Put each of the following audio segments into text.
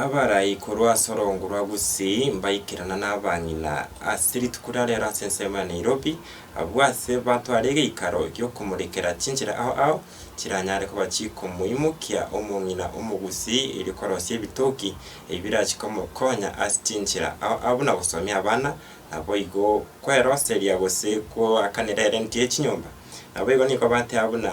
Abarai korwa ase orongo rwa Gusii mbaikerana na abang'ina ase rituko riria rero ase ensemo ya Nairobi, abwo ase batwara egeikaro gi'okomorekera chinchera ao ao chiranyare koba chikomoimokia omong'ina Omogusii erio korosia ebitoki ebi birache komokonya ase chinchera ao ao buna gosomia abana, naboigo kweroseria gose koakanera erenti ye chinyomba. Naboigo nigo bateba buna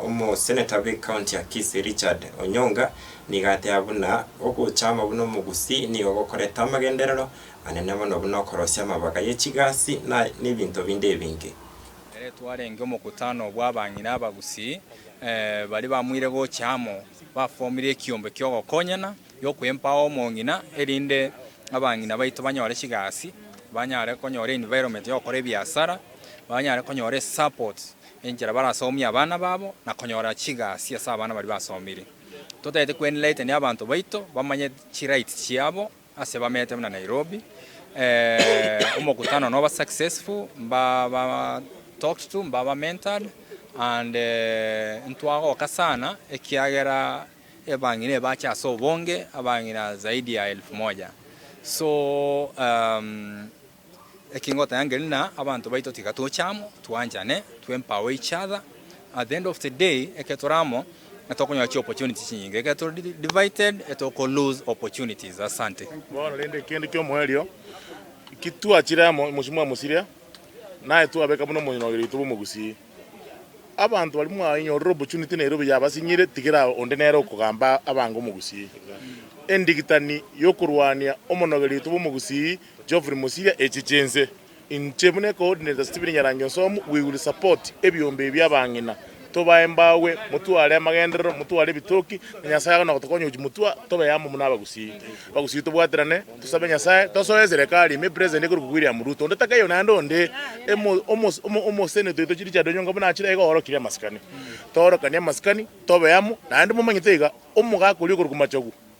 Omoseneta bw'ecounty ya Kisii Richard Onyonga nigo ateba buna ogochama buna omogusii nigo gokorete amagenderero anene mono buna okorosia amabaga ye chigasi na nebinto binde ebinge. Ere twarenge omokutano bw'abang'ina abagusii baria bamoire gocha amo bafomire ekiombe ki'ogokonyana gi'okwempao omong'ina erinde abang'ina baito banyore chigasi, banyare konyora environment y'ogokora ebiasara, banyare konyora esupport enchera barasomie abana babo na konyora chigasi ase abana baria basomire. Totagete kweenlighten abanto baito bamanye chi rights chiabo ase bamete buna Nairobi eeh omokutano noba successful mba ba talked to mba ba mentored and ntwagoka sana ekiagera ebang'ina ebache ase obonge abang'ina zaidi ya elfu moja so eeh. Eki ngoteba ngeri na abanto baito tiga toche amo, twanchane, to empower each other. At the end of the day, ekero tore amo, tokonyora chi opportunities chinyinge, ekero tore divided, toko lose opportunities. Asante. Bono rende kende ki'omoerio, ki twachire amo mochie mwamosiria, naye twabeka buna omonyoreiri oito bw'omogusii. Abanto baria mwainyorire opportunity na erobi yabasinyire, tigera onde nere okogamba abange omogusii. Endigitani y'okorwania omonogeri oito bw'omogusii Geoffrey Mosiria Echi chinse inche buna ecoordinator Stephen Nyarange Nsomu we will support ebiombe ebi abang'ina tobae mbawe motware amagenderero motware ebitoki na Nyasaye agane gotokonya gochi motwa tobe amo buna abagusii abagusii tobwaterane tosabe Nyasaye tosoe eserekari ime president ekorokwa William Ruto onde takayo naende onde emo omo omo omo senator oito Richard Onyonga buna achire iga orokire amasikani toorokanie amasikani tobe amo naende momanyete iga omogaka oria okorokwa Machogu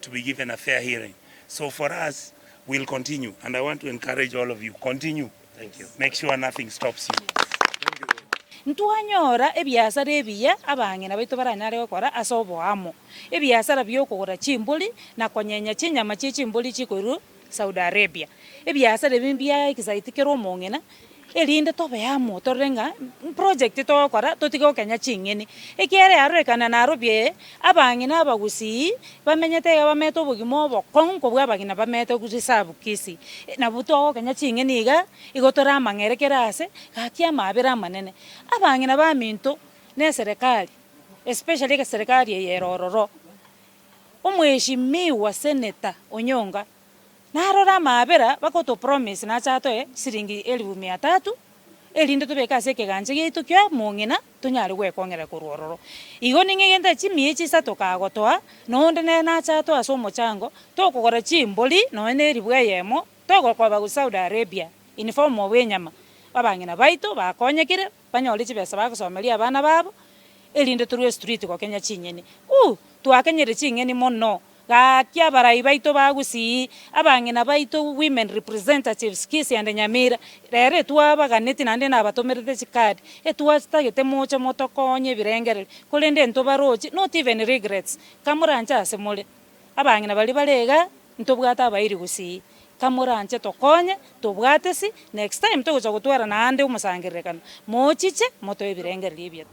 to be given a fair hearing so for us we'll continue and I want to encourage all of you continue make sure nothing stops you. Ntwanyora ebiasara ebiya abang'ina baito baranyare gokora ase oboamo, ebiasara bi'okogora chimbori na konyenya chinyama chie chimbori chikoirwa Saudi Arabia, ebiasara ebi mbia ekisaiti kere omong'ina, erinde tobe amo torore ng'a mprojekti togokora totige gokenya ching'eni, ekiagera yarorekana Nairobi eye, abang'ina abagusii bamenyete iga bamenyete obogima obokong'u nkobua abagima bamenyete reserve Kisii, nabo togokenya ching'eni igaa, igo tore amang'ere kera aase, gaki amaabera amanene. Abang'ina baminto, na eserekari, especially egeserekari eye ere ororo. Omweshimiwa Seneta Onyonga narore amaabera bagotopromise nache atoe chisiringi elifu mia tatu erinde tobeke ase ekegancha giaito ki'omong'ina tonyare gwekong'era korwa ororo. Igo ning'egete chimiechi isato kagotoa na onde nere nache atoe ase omochango tokogora chimbori nonya na eribu eyemo togokoba gochia Saudi Arabia in form of enyama. Abang'ina baito bakonyekire banyore chibesa bagosomeria abana babo erinde torue estriti gokenya ching'eni. Uuh twakenyire ching'eni mono gaki abarai baito ba Gusii, abang'ina baito women representatives Kisii and Nyamira rero etwabaganeti naende nabatomerete chicard etwatagete moche motokonye ebirengererio korende ntobarochi not even regrets kamoranche ase more. Abang'ina baria bare iga ntobwate abairi gosii kamoranche tokonye tobwate si next time togocha gotwarana ande omosangererekano mochiche motoe ebirengererio ebiato.